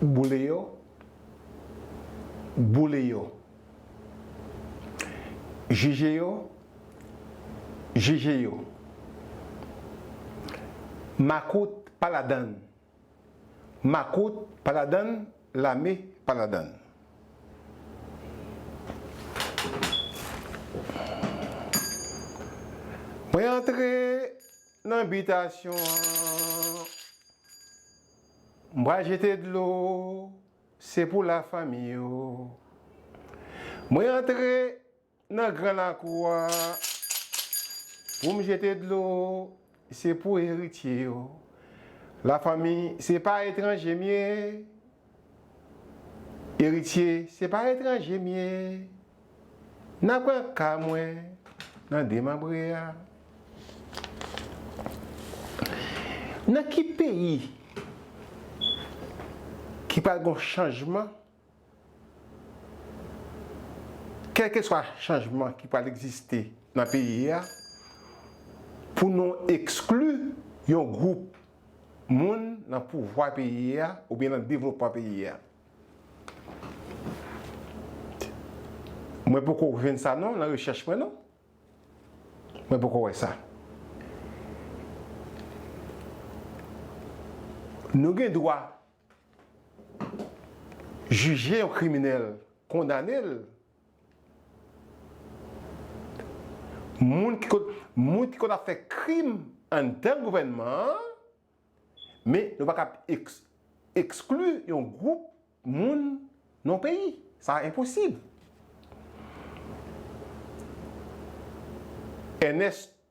Boule yo Boule yo Jije yo Jije yo Makout pa ladann. Makout pa ladann lame pa ladann. Mwen antre nan bitasyon an m pral jete dlo se pou la fanmi yo mwen antre. Nan gran lakou a pou m jete dlo se pou eritye yo la fanmi se pa etranje m ye eritye se pa etranje m ye nan pran ka mwen nan demanbre a nan ki peyi ki pral gon chanjman. Kèlkeswa chanjman ki pral egziste nan peyi a, pou nou ekskli yon gwoup moun nan pouvwa peyi a oubyen nan devlopman peyi a. Mwen poko jwenn sa non nan rechèch mwen non. Mwen poko wè sa. Nou gen dwa. Jije yon kriminèl kondane l. Moun ki konn ap fè krim anndan gouvènman an, men nou pa kab ekskli yon gwoup moun nan yon peyi. Sa enposib. Ènès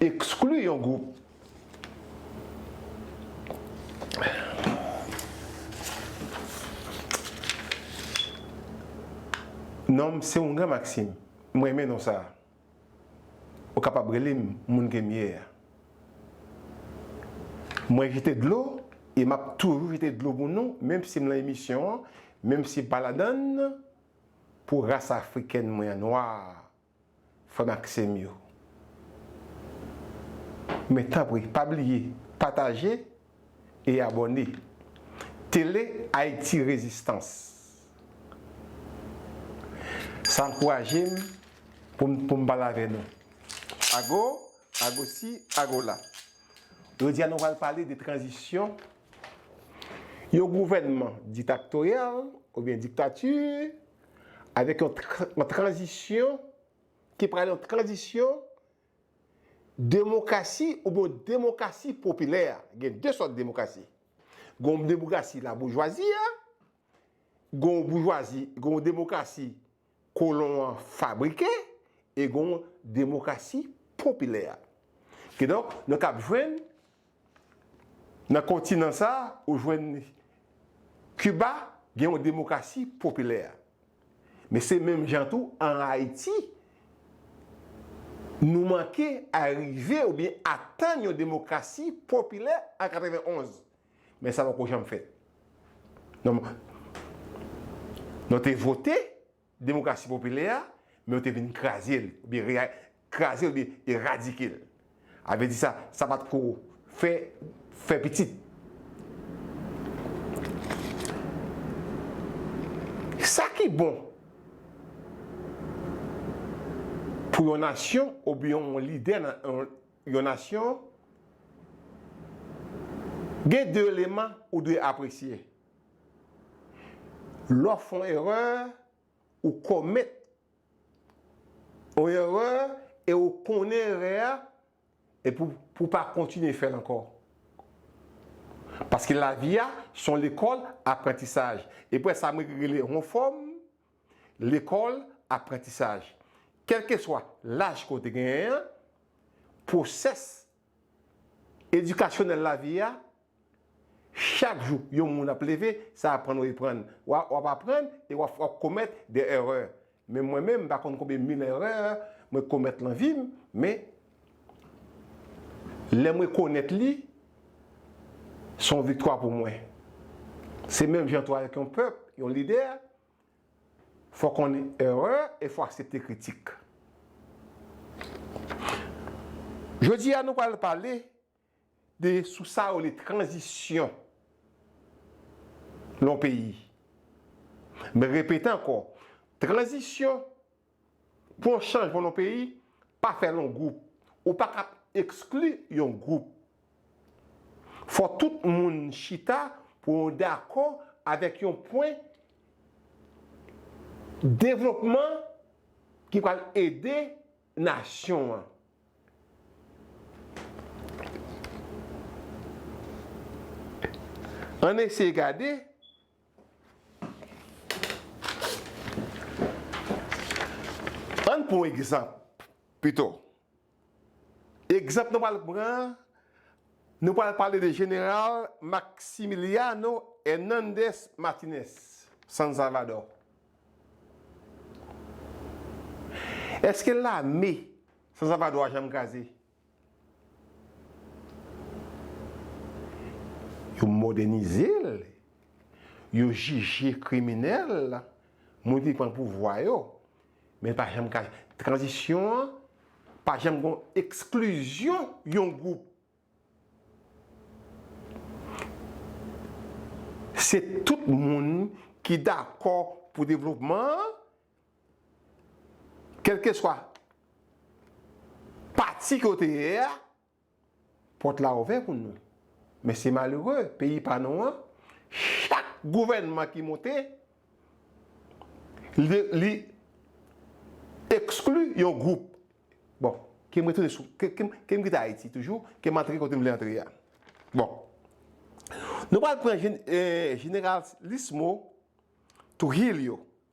Ekskli yon gwoup. Non m se yon gran maksim. M renmen non sa a. Ou kapab rele m moun ke m ye a. Mwen jete dlo e m ap toujou jete dlo pou nou, menm si m lan emisyon an, menm si m pa ladann, pou ras afrikèn mwen an, nwa a. Frè m ak sè m yo. Men tanpri pa bliye pataje e abòne Tele Ayiti Rezistans. Sa ankouraje m pou m pou m pale avè nou. Ago, ago si, ago la. Jodi a nou pral pale de tranzisyon yon gouvènman ditaktoryal oubyen diktati avèk yon yon tranzisyon ki pral yon tranzisyon demokrasi oubyen yon demokrasi popilè. Gen 2 sòt demokrasi. Gen yon demokrasi laboujwazi a, gen yon boujwazi, gen yon demokrasi kolon an fabrike e gen yon demokrasi popilè a. Kidonk, nou t ap jwenn Nan kontinan sa a, ou jwenn Kiba gen yon demokrasi popilè. Men se menm jan tou an Ayiti, nou manke arive oubyen atann yon demokrasi popilè an 91. Men sa poko janm fèt. Non te vote. Demokrasi popilè a, men yo te vin kraze l, oubyen kraze l oubyen eradike l. A vle di sa, sa pa t ko fè fè pitit. Sa ki bon pou yon nasyon oubyen yon lidè nan yon nasyon, gen de eleman ou dwe apresye. Lè w fè yon erè, ou komèt yon erè e ou konnen erè a e pou ou pa kontinye fè l ankò. Paske lavi a se yon lekòl aprantisaj. E pou sa mwen rele yon fòm lekòl aprantisaj. Kèlkeswa laj ke w te genyen an, pwosès Edikasyonèl lavi a, chak jou yon moun ap leve, sa aprann ou eprann. Wa wap aprann e wap wap komèt de èrè. Men mwen menm m pa konn konbyen mil èrè mwen komèt lan vi m, men lè m rekonèt li, son viktwa pou mwen. Se menm jan tou avèk yon pèp, yon lidè, Fò konn erè e fò aksepte kritik. Jodi a nou pral pale de sou sa yo rele tranzisyon nan yon peyi. M repete ankò, tranzisyon. Pou yon chanjman nan peyi, pa fè l an gwoup. Ou pa ka ekskli yon gwoup. Fò tout moun chita pou yon dakò avèk yon pwen devlopman ki pral ede nasyon an. Ann eseye gade. Ann pran yon egzanp pito. Egzanp nou pral pran an, nou pral pale de Jeneral Maximiliano Hernandez Martinez, San Salvadò. Eske lame San Salvadò a janm kraze? Yo modènize l, yo jije kriminèl, moun ki pran pouvwa yo, men pa janm ka, tranzisyon an pa janm gon eksklizyon yon gwoup. Se tout moun ki dakò pou devlopman an. Kèlkeswa pati ke w te ye a, pòt la ouvè pou nou. Men se malere, peyi pa nou an, chak gouvènman ki monte, li ekskli yon gwoup. Bon, ke m retounen sou, ke m kite Ayiti toujou, ke m antre kote m vle antre a. Bon, nou pral pran jeneral Lismo Trujilio.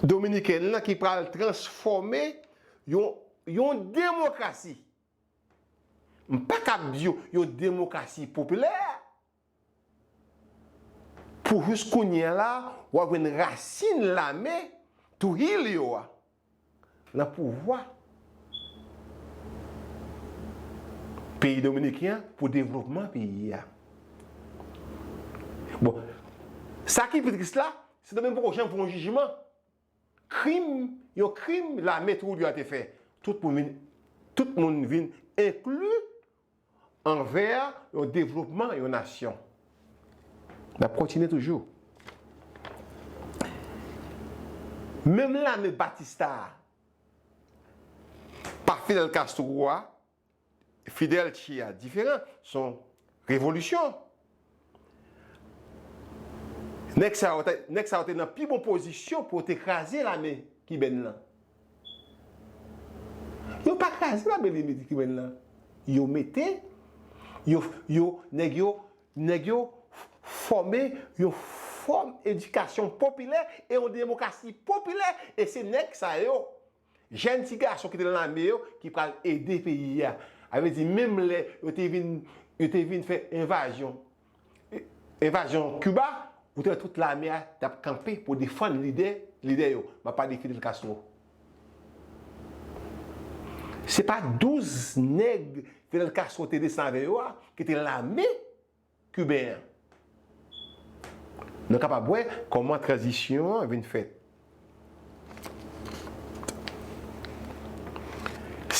Dominikèn lan ki pral transfòme yon demokrasi, m pa kab di yon demokrasi popilè, pou jis kounye a la, w ap jwenn rasin lame Trujillo a. nan pouvwa peyi dominiken an pou devlopman peyi a. Bon, sa ki pi tris la, Sendomeng poko janm fè yon jijman krim, yon krim lame Trujillo a te fè. Tout moun vin enkli anvè yon devlopman yon nasyon. N ap kontinye toujou. Menm lame Batista a, pa Fidel Castro a, Fidel Che a diferan, son revolisyon. Nèg sa yo te, nèg sa yo te nan pi bon pozisyon pou yo te kraze lame kibèn lan. Yo pa kraze lame lame kibèn lan. Yo mete, yo, yo, nèg yo, nèg yo fòme yon fòm edikasyon popilè e yon demokrasi popilè e se nèg sa yo Jèn ti gason ki te nan lame yo ki pral ede peyi a. A vle di menm lè yo te vin yo te vin fè envazyon envazyon Kiba, ou te wè tout lame a t ap kanpe pou defann lide lidè yo. M ap pale de Fidel Castro. Se pa 12 nèg Fidel Castro te desan avè yo a ki te nan lame Kiben an. Nou kapab wè kòman tranzisyon an vin fèt.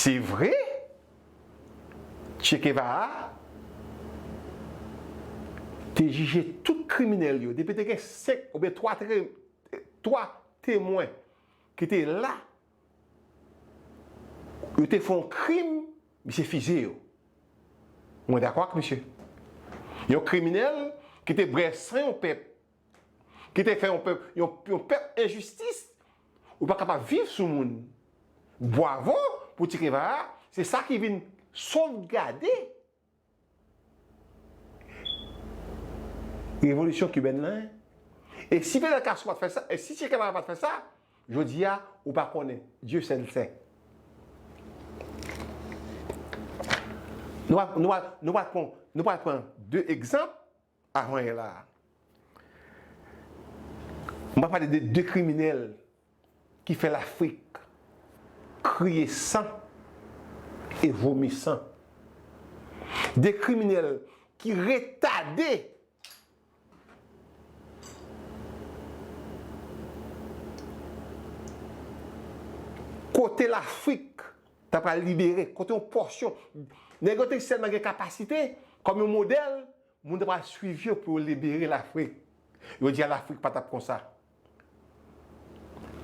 Se vre, Che Kevara te jije tout kriminèl yo. Depi te gen senk oubyen twa temwen ki te la Yo te fè yon krim, misye fizye yo. Mwen dakò ak misye. Yon kriminèl ki te bwè san yon pèp, ki te fè yon pèp, yon pèp enjistis, ou pa kapab viv sou moun. Bwavo pou Ti Keva a, se sa ki vin sovgade. Revolisyon kibèn nan e. E si Fidel Castro pa t fè sa, e si Che Guevara pa t fè sa, jodi a, ou pa konnen. Dieu seul sait. Nou pral pran 2 egzanp Avan yè la a. M pral pale de 2 kriminèl ki fè Lafrik kriye san e vomi san. 2 kriminèl ki retade kote Lafrik ta pral libere, kote yon pòsyon nèg yo te sèlman gen kapasite kòm yon modèl, moun ta pral swiv yo pou yo libere Lafrik. Yo di a Lafrik pa t ap konsa.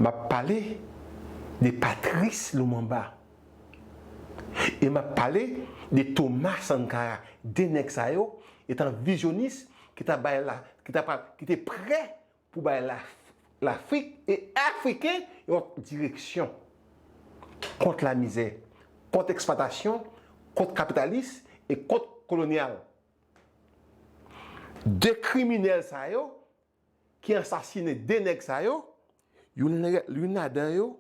M ap pale de Patrice Lumumba e m ap pale de Thomas Sankara, 2 nèg sa yo etan vizyonis ki ta bay la, ki ta pral, ki te prè pou bay Lafrik e Afriken yon direksyon kont lamizè, kont eksplwatasyon, kont kapitalis e kont kolonyal. De kriminèl sa yo ki ansasinen de nèg sa yo, youn ladan yo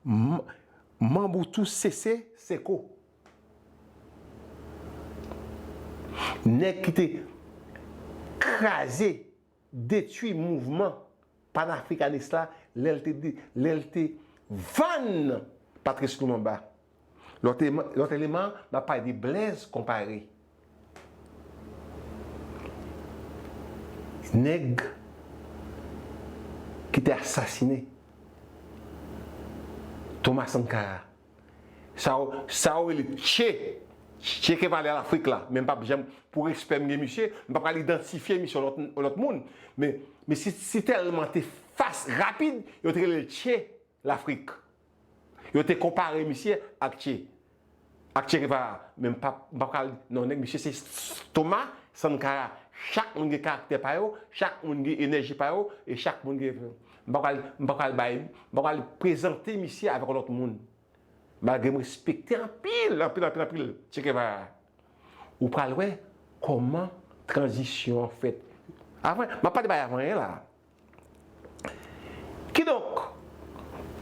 manb ou tou Sese Seko. Nèg ki te kraze. detwi mouvman panafrikanis la lè l te vann Patrice Lumumba. Lòt eleman, m ap pale de Blaise Compaoré. Nèg ki te asasine Thomas Sankara. Sa ou rele Che Che Kevale Lafrik la men m pap janm pou respè m gen misye m pa pral idantifye misye yon lòt moun men misye si tèlman te fas rapid yo te rele l Che Lafrik yo te konpare misye ak Che ak Che Gevara men m pap m pa pral non nèg misye se Toma Sankara chak moun gen karaktè pa yo chak moun gen enèji pa yo e chak moun gen M pa pral, m pa pral bay, m pa pral prezante misye avèk yon lòt moun. Malgre m respekte anpil, anpil, anpil, anpil Che Guevara. Ou pral wè kòman tranzisyon an fèt. Avan, m ap pale bay avan yen la. Kidonk,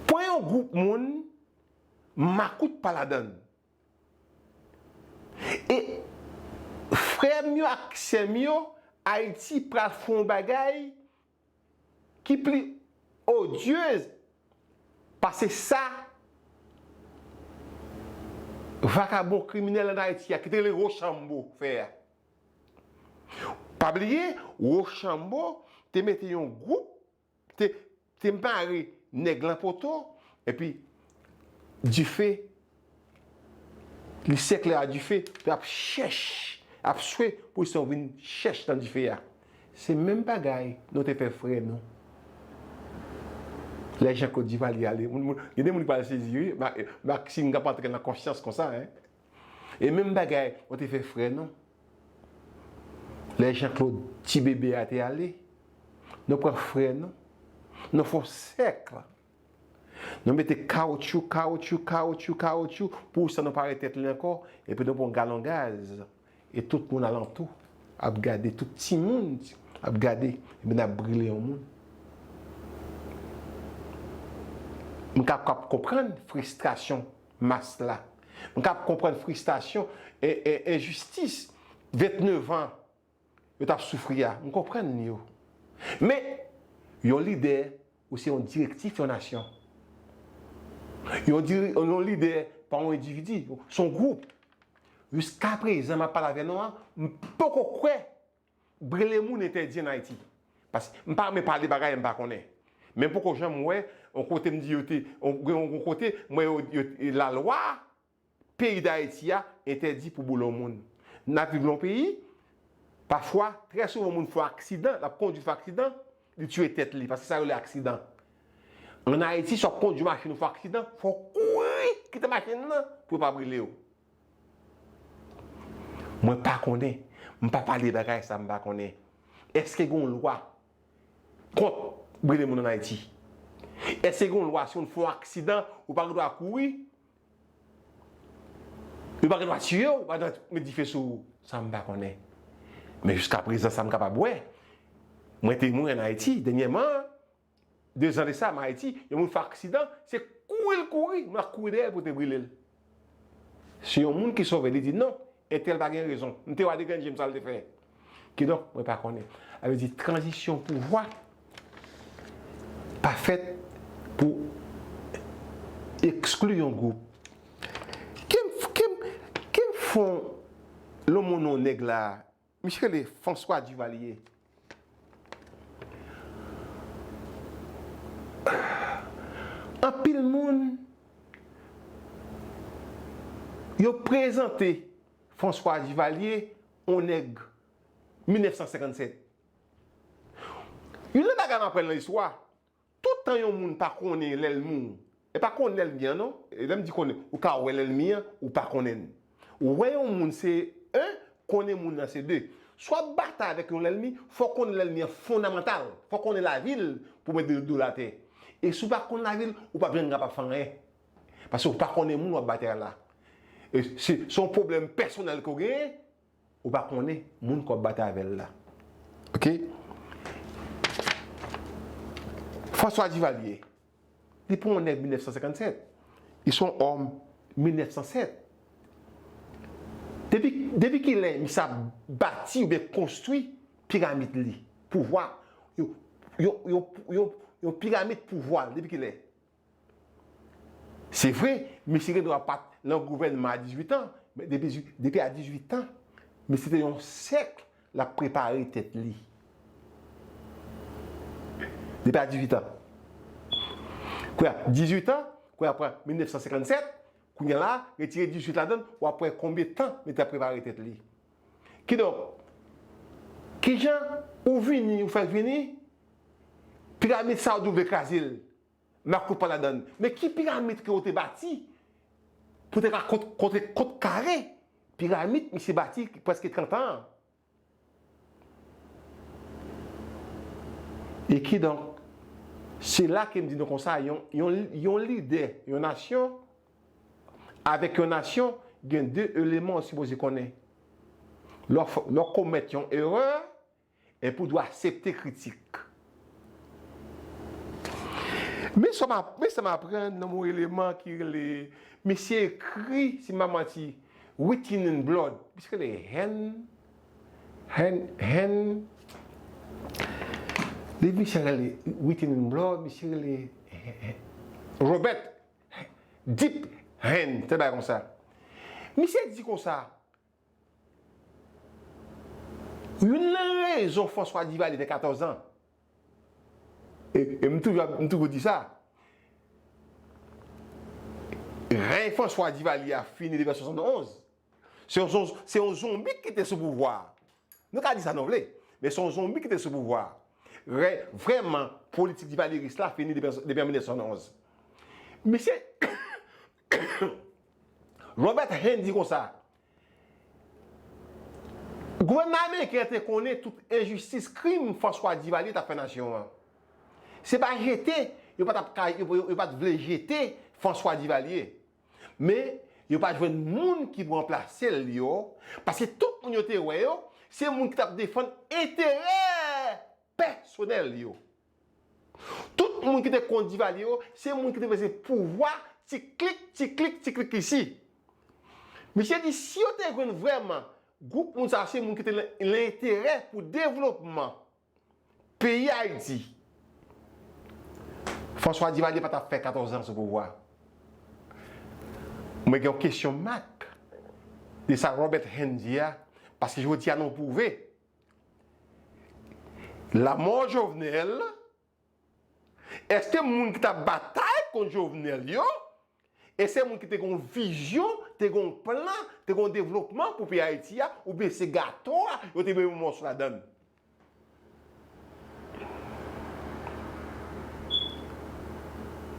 pran yon gwoup moun, makout pa ladan l. E, frè m yo ak sè m yo, Ayiti pral fè yon bagay, ki pli odieuse pase sa vakabon kriminèl an Ayiti a ki te rele Rochambo fè a. Pa bliye Rochambo te mete yon gwoup, te mare nèg lan poto epi dife. Li sèk lè a dife, lè ap chèch, ap swe pou san w vin chèch nan dife a. Se menm bagay nou te fè frè nou. Lè Janklod Divalye ale, gen de moun ki pral sezi wi, Maksim kap antre nan konsyans konsa. E menm bagay nou te fè frè nou. Lè Janklod ti bebe a te ale, nou pran frè nou, nou fè yon sèkl Nou mete kawoutchou, kawoutchou, kawoutchou, kawoutchou pou san nou pa wè tèt li ankò, epi nou pran yon galon gaz, e tout moun alantou ap gade, tout timoun ap gade, epi n ap brile yon moun. M kapab konprann fristrasyon mas la. M kapab konprann fristasyon enjistis 29 an. yo t ap soufri a, m konprann yo. Men, yon lidè, ou se yon direktif yon nasyon. Yon lidè pa yon endividi, se yon gwoup. Jiska prezan m ap pale avè nou an, m poko kwè brele moun entèdi an Ayiti. Paske, m pa renmen pale bagay m pa konnen. Men m poko janm wè yon kote m di yo te, gen yon kote m wè yo, lalwa Peyi Dayiti a entèdi pou boulon moun. N ap viv nan yon peyi, pafwa, trè souvan moun fè yon aksidan, l ap kondwi fè aksidan, li tiye tèt li, paske sa yo rele aksidan. An Ayiti, si w ap kondwi machin ou fè aksidan, fò w kouri kite machin nan pou yo pa brile w. Mwen pa konnen, m pa pale bagay sa m pa konnen. Èske gen yon lwa kont brile moun an Ayiti? Èske gen yon lwa si moun fè yon aksidan, ou pa gen dwa kouri? Yo pa gen dwa tiye w, yo pa gen dwa met dife sou ou. Sa m pa konnen. Men jiska prezan sa m kapab wè, mwen temwen an Ayiti dènyèman, dezan de sa m Ayiti, yon moun fè aksidan, se kouri l kouri, moun ap kouri dèyè l pou te brile l. Si yon moun ki sove li di non, Entèl pa gen rezon. M te wè de grenn je m sa l te fè. Kidonk, mwen pa konnen. Sa vle di tranzisyon pouvwa pa fèt pou ekskli yon gwoup. Ke m fon lonmonon nèg la Misye rele François Duvalier. Anpil moun yo prezante François Duvalier on nèg 1957. Youn nan bagay m aprann nan istwa, Tout tan yon moun pa konnen lè l mouri. E pa konnen lè l gen an non. E lè m di konnen, ou ka wè lè l mi an, ou pa konnen l. Wè yon moun se 1, konnen moun nan se 2. Si w ap batay avèk yon lènmi, fò w konnen lènmi an fondamantal. Fò w konnen lavi l pou w mèt do l atè. E si w pa konn lavi l, ou p ap janm kapab fè anyen. Paske w pa konnen moun w ap batay la. Se yon pwoblèm pèsonèl ke w genyen. Ou pa konnen moun ke wap batay avèl la ok. François Duvalier li pa yon nèg 1957 li son òm 1907 depi depi kilè misye ap bati oubyen konstwi piramid li pouvwa yo yo yo yo piramid pouvwal depi kilè Se vre, mesye gen dwa pa t lan gouvènman a 18 an, men depi a 18 an, mesye te yon sèk l ap prepare tèt li. Depi a 18 an. Kounye a, 18 an, kounye a pran 1957, kounye a la, retire 18 ladan l, w ap wè konbyen tan li te ap prepare tèt li. Kidonk, ki jan ou vini, ou fè vini, piramid sa ou di ou vle kraze l, Marco t pa ladann. Men ki piramit ke yo te bati pou te ka kontre kont kare piramit misye bati preske 30 an an. E kidonk, se la ke m di nou konsa, yon lidè yon nasyon avèk yon nasyon gen 2 eleman ou sipoze konnen. Lè w komèt yon erè, Epi w dwe aksepte kritik. Men sa m aprann nan yon eleman ki rele, misye ekri, si m pa manti, Written in Blood. Misye rele Hen. Hen. Hen. Liv misye a rele Written in Blood. Misye rele Robert Deep Hen, te bagay konsa. Misye di konsa. Youn nan rezon François Duvalier te 14 ans e m toujou ap m toujou di sa Rèy François Duvalier a fini depi an 71 se yon zon se yon zonbi ki te sou pouvwa a nou ka di sa nou vle men se yon zonbi ki te sou pouvwa a Rèy vrèman politik Duvalieris la fini depi an 1971 Misye Robert Hain di konsa, Gouvènman ameriken an te konnen tout enjistis krim François Duvalier t ap fè nasyon an. Se pa jete yo pa t ap ka yo pa t vle jete François Duvalier. Men yo pa jwenn moun ki pou ranplase l yo paske tout moun yo te wè yo se moun ki t ap defann enterè pèsonèl yo. Tout moun ki te kont Divalye yo, se moun ki te vle se pouvwa ti klik, ti klik, ti klik isi. Misye di si yo te jwenn vrèman gwoup moun sa yo se moun ki te nan enterè pou devlopman peyi Ayiti, François Divalye pa t ap fè 14 zan sou pouvwa. Mwen gen yon kesyon mak de sa Robert Hend di a, paske jodi a nou pwouve Lamò Jovenel, Eske moun ki tap batay kont Jovenel yo, e se moun ki te gen yon vizyon, te gen yon plan, te gen yon devlopman pou peyi Ayiti a, oubyen se gato a yo te menm yon mòso ladann?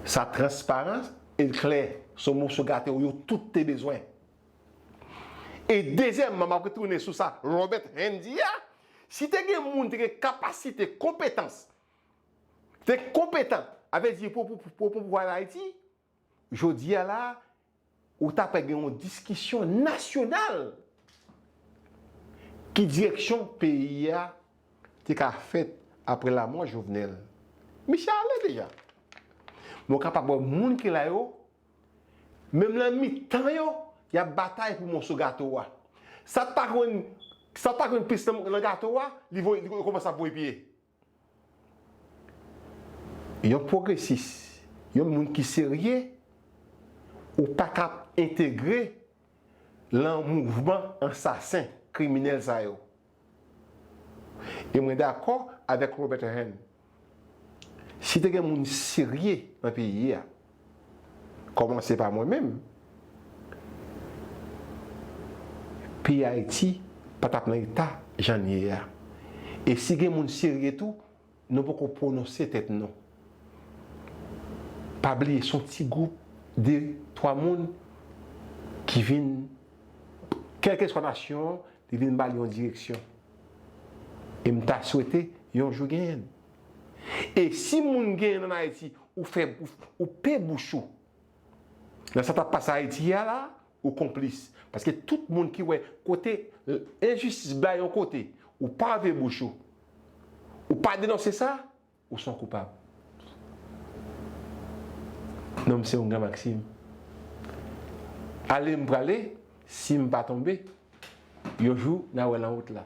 Sa transparan e l klè, se yon mòso gato yo tout te bezwen. E dezyèmman, m ap retounen sou sa Robert Hend di a, si te gen moun te gen kapasite, konpetans, te konpetan, a vle di pou pou pouvwa an Ayiti, jodi a la a, ou ta pe gen yon diskisyon nasyonal ki direksyon peyi a te ka fèt apre lamò Jovenel. Misye ale deja. Men w kapab wè moun ki la yo Menm nan mitan yo, y ap batay pou moso gato a. Sa k pa konn Sa k pa konn plis nan gato a, li voye li kòmanse ap voye pye. Yon pwogresis, yon moun ki serye, ou pa ka entegre lan mouvman ansasen, kriminèl sa yo. E mwen dakò avèk Robert Hahn, si te gen moun serye nan peyi a, kòmanse pa mwen menm, peyi Ayiti pa t ap nan eta jan l ye a. E si gen moun serye tou, Nou poko pwononse tèt nou. Pa bliye son ti gwoup de 3 moun ki vin kèlkeswa nasyon an li vin bali yon direksyon. E m ta swete yon jou genyen. E si moun genyen an Ayiti ou fè ou pe bouch ou nan sa kap pase Ayiti a la Ou konplis. Paske tout moun ki wè kote enjistis bay yon kote, ou pa ouvè bouch ou. Ou pa denonse sa, ou son koupab. Non m se yon gran Maksim. Ale m prale, si m pa tonbe, yon jou na wè lan wout la.